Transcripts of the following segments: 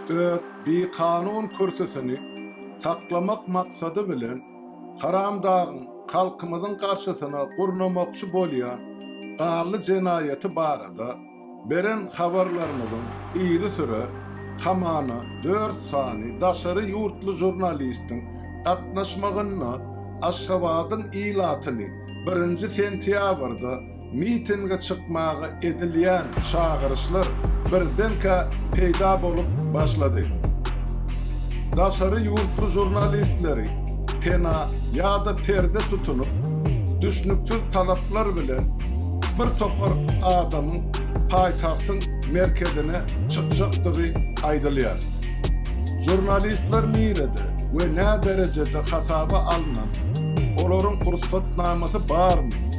öz bikanun kürsüsini saklamak maksady bilen Haramdagyň halkymyzyň garşysyna gurnamakçy bolýan gally jenaýaty barada beren habarlarymyzyň yzysüre hamana dört sany daşary ýurtly žurnalistiň gatnaşmagynda Aşgabadyň ilatyny birinji sentýabrda Mitinge çykmaga edilýän çagyryşlar birdenkä peýda bolup başlady. Daşary ýurtly žurnalistleri pena ýa-da perde tutunyp, düşnüksiz talaplar bilen bir topar adamyň paýtagtyň merkezine çykjakdygy aýdylýar. Žurnalistler nirede we nä derejede hasaba alnan, olaryň rugsatnamasy barmy?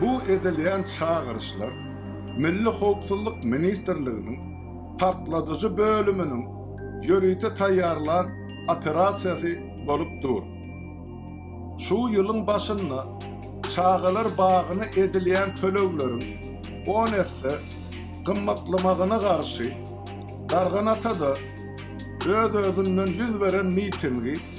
Bu edilýän çagyryşlar Milli howpsuzlyk ministrliginiň Partladyjy bölüminiň ýörite taýýarlan operasiýasy bolup dur. Şu ýylyň başynda çagalar bagyna edilýän tölegleriň on esse gymmatlamagyna garşy Darganatada öz-özünden ýüz beren mitingi